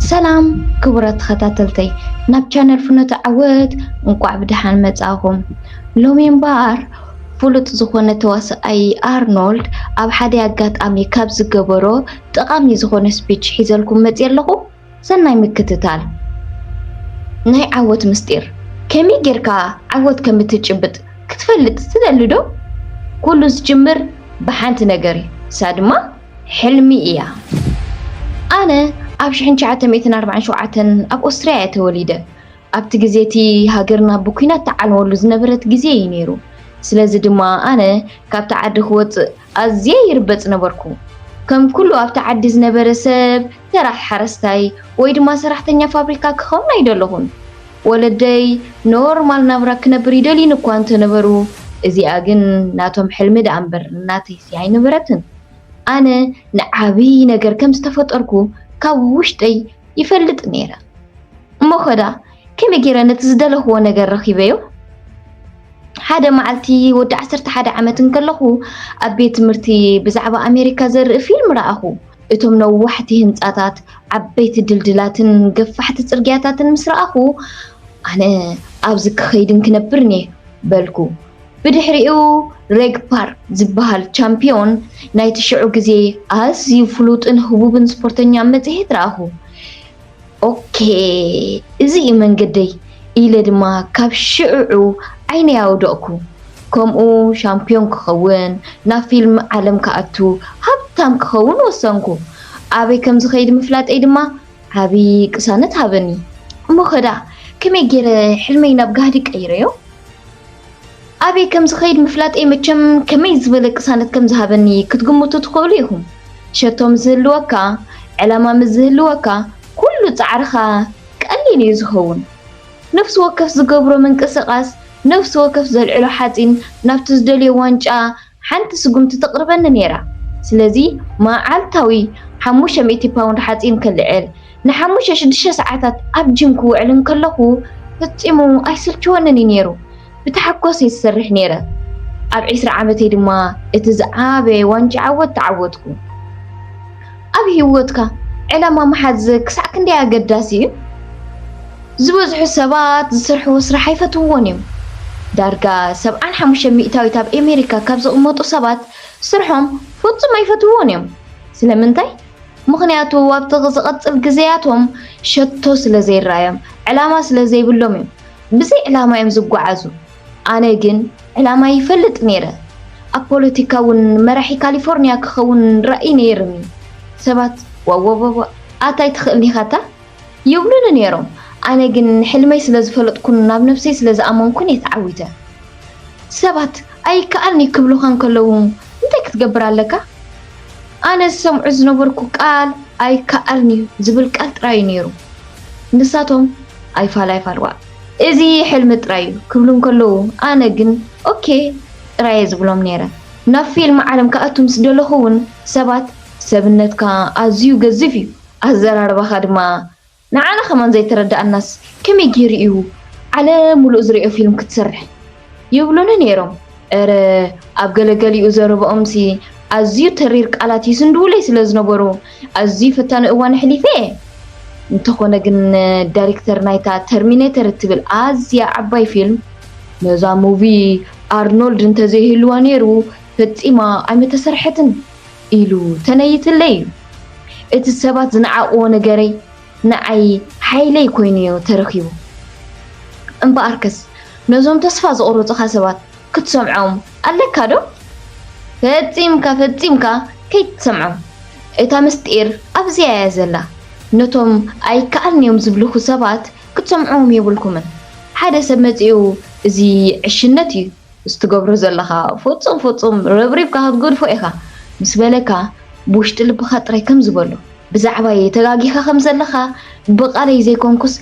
ሰላም ክቡራት ተኸታተልተይ ናብ ቻነል ፍኖተ ዓወት እንቋዕ ብደሓን መጻኹም። ሎሚ እምበኣር ፍሉጥ ዝኾነ ተዋስኣይ ኣርኖልድ ኣብ ሓደ ኣጋጣሚ ካብ ዝገበሮ ጠቓሚ ዝኾነ ስፒች ሒዘልኩም መጺ ኣለኹ። ሰናይ ምክትታል ናይ ዓወት ምስጢር ከመይ ጌርካ ዓወት ከም እትጭብጥ ክትፈልጥ ትደሊ ዶ? ኩሉ ዝጅምር ብሓንቲ ነገር እዩ፣ ንሳ ድማ ሕልሚ እያ። ኣነ ኣብ ሽሕን ትሽዓተ ሚእትን ኣርባዕን ሸውዓተን ኣብ ኦስትርያ እየ ተወሊደ። ኣብቲ ግዜ እቲ ሃገርና ብኲናት ትዓንወሉ ዝነበረት ግዜ እዩ ነይሩ። ስለዚ ድማ ኣነ ካብቲ ዓዲ ክወጽእ ኣዝየ ይርበጽ ነበርኩ። ከም ኩሉ ኣብቲ ዓዲ ዝነበረ ሰብ ተራ ሓረስታይ ወይ ድማ ሰራሕተኛ ፋብሪካ ክኸውን ኣይደለኹን። ወለደይ ኖርማል ናብራ ክነብር ይደልዩኒ እኳ እንተ ነበሩ፣ እዚኣ ግን ናቶም ሕልሚ ደኣ እምበር ናተይሲ ኣይነበረትን። ኣነ ንዓብዪ ነገር ከም ዝተፈጠርኩ ካብ ውሽጠይ ይፈልጥ ነይረ። እሞኸ ደኣ ከመይ ገይረ ነቲ ዝደለኽዎ ነገር ረኺበዮ? ሓደ መዓልቲ ወዲ ዓሰርተ ሓደ ዓመት እንከለኹ ኣብ ቤት ትምህርቲ ብዛዕባ ኣሜሪካ ዘርኢ ፊልም ረኣኹ። እቶም ነዋሕቲ ህንጻታት፣ ዓበይቲ ድልድላትን ገፋሕቲ ጽርግያታትን ምስ ረኣኹ፣ ኣነ ኣብዚ ክኸይድን ክነብርን እየ በልኩ። ብድሕሪኡ ሬግ ፓርክ ዝበሃል ቻምፒዮን ናይቲ ሽዑ ግዜ ኣዝዩ ፍሉጥን ህቡብን ስፖርተኛ ኣብ መጽሔት ረኣኹ። ኦኬ እዚ እዩ መንገደይ ኢለ ድማ ካብ ሽዕዑ ዓይነይ ኣውደቕኩ። ከምኡ ሻምፕዮን ክኸውን፣ ናብ ፊልም ዓለም ክኣቱ፣ ሃብታም ክኸውን ወሰንኩ። ኣበይ ከም ዝኸይድ ምፍላጠይ ድማ ዓቢ ቅሳነት ሃበኒ። እሞኸ ደኣ ከመይ ገይረ ሕልመይ ናብ ጋህዲ ቀይረዮ? ኣበይ ከም ዝኸይድ ምፍላጠይ መቸም ከመይ ዝበለ ቅሳነት ከም ዝሃበኒ ክትግምቱ ትኽእሉ ኢኹም። ሸቶ ምስ ዝህልወካ፣ ዕላማ ምስ ዝህልወካ፣ ኩሉ ጻዕርኻ ቀሊል እዩ ዝኸውን። ነፍሲ ወከፍ ዝገብሮ ምንቅስቓስ፣ ነፍሲ ወከፍ ዘልዕሎ ሓጺን ናብቲ ዝደልዮ ዋንጫ፣ ሓንቲ ስጉምቲ ተቕርበኒ ነይራ። ስለዚ መዓልታዊ ሓሙሽተ ሚእቲ ፓውንድ ሓጺን ከልዕል፣ ንሓሙሽተ ሽዱሽተ ሰዓታት ኣብ ጂም ክውዕል እንከለኹ ፈጺሙ ኣይስልችወንን እዩ ነይሩ። ብታሕጓስ እየ ዝሰርሕ ነይረ። ኣብ ዕስራ ዓመተይ ድማ እቲ ዝዓበየ ዋንጫ ዓወት ተዓወትኩ። ኣብ ህይወትካ ዕላማ ምሓዝ ክሳዕ ክንደይ ኣገዳሲ እዩ? ዝበዝሑ ሰባት ዝሰርሕዎ ስራሕ ኣይፈትውዎን እዮም። ዳርጋ ሰብዓን ሓሙሽተ ሚእታዊት ኣብ ኣሜሪካ ካብ ዝቕመጡ ሰባት ስርሖም ፍጹም ኣይፈትውዎን እዮም። ስለምንታይ? ምኽንያቱ ኣብቲ ዝቕጽል ግዜያቶም ሸቶ ስለ ዘይረኣዮም፣ ዕላማ ስለ ዘይብሎም እዮም። ብዘይ ዕላማ እዮም ዝጓዓዙ። ኣነ ግን ዕላማይ ይፈልጥ ነይረ ኣብ ፖለቲካ ውን መራሒ ካሊፎርንያ ክከውን ራኢ ነይርኒ ሰባት ዋዋዋዋ ኣታይ ትክእል ኢካ እታ ይብሉኒ ነይሮም ኣነ ግን ሕልመይ ስለ ዝፈለጥኩን ናብ ነብሰይ ስለ ዝኣመንኩን እየ ተዓዊተ ሰባት ኣይከኣልን እዩ ክብሉካ እንከለዉ እንታይ ክትገብር ኣለካ ኣነ ዝሰምዑ ዝነበርኩ ቃል ኣይከኣልን እዩ ዝብል ቃል ጥራይ እዩ ነይሩ ንሳቶም ኣይፋል ኣይፋል ዋእ እዚ ሕልሚ ጥራይ እዩ ክብሉ እንከለዉ ኣነ ግን ኦኬ ጥራይ እየ ዝብሎም ነይረ። ናብ ፊልም ዓለም ክኣቱ ምስ ደለኹ እውን ሰባት ሰብነትካ ኣዝዩ ገዚፍ እዩ፣ ኣዘራርባኻ ድማ ንዓና ከማን ዘይተረድኣናስ ከመይ ገይሩ እዩ ዓለም ምሉእ ዝርእዮ ፊልም ክትሰርሕ ይብሉኒ ነይሮም። እረ ኣብ ገለገሊኡ ዘረብኦምሲ ኣዝዩ ተሪር ቃላት ይስንድዉለይ ስለ ዝነበሩ ኣዝዩ ፈታኒ እዋን ኣሕሊፈ እየ። እንተኾነ ግን ዳይሬክተር ናይታ ተርሚኔተር እትብል ኣዝያ ዓባይ ፊልም ነዛ ሙቪ ኣርኖልድ እንተዘይህልዋ ነይሩ ፈጺማ ኣይምተሰርሐትን ኢሉ ተነይትለይ እዩ። እቲ ሰባት ዝነዓቕዎ ነገረይ ንዓይ ሓይለይ ኮይኑዮ ተረኪቡ። እምበኣርከስ ነዞም ተስፋ ዝቖረጹኻ ሰባት ክትሰምዖም ኣለካዶ? ፈጺምካ ፈጺምካ ከይትሰምዖም። እታ ምስጢር ኣብዚኣያ ዘላ። ነቶም ኣይከኣልንዮም ዝብሉኹ ሰባት ክትሰምዕዎም የብልኩምን። ሓደ ሰብ መጺኡ እዚ ዕሽነትዩ። እዚ ትገብሮ ዘለኻ ፍጹም ፍጹም ረብሪብካ ክትገድፎ ኢኻ ምስ በለካ ብውሽጢ ልብኻ ጥራይ ከምዚ በሎ ብዛዕባየይ ተጋጊኻ ከም ዘለኻ ብቓለይ ዘይኮንኩስ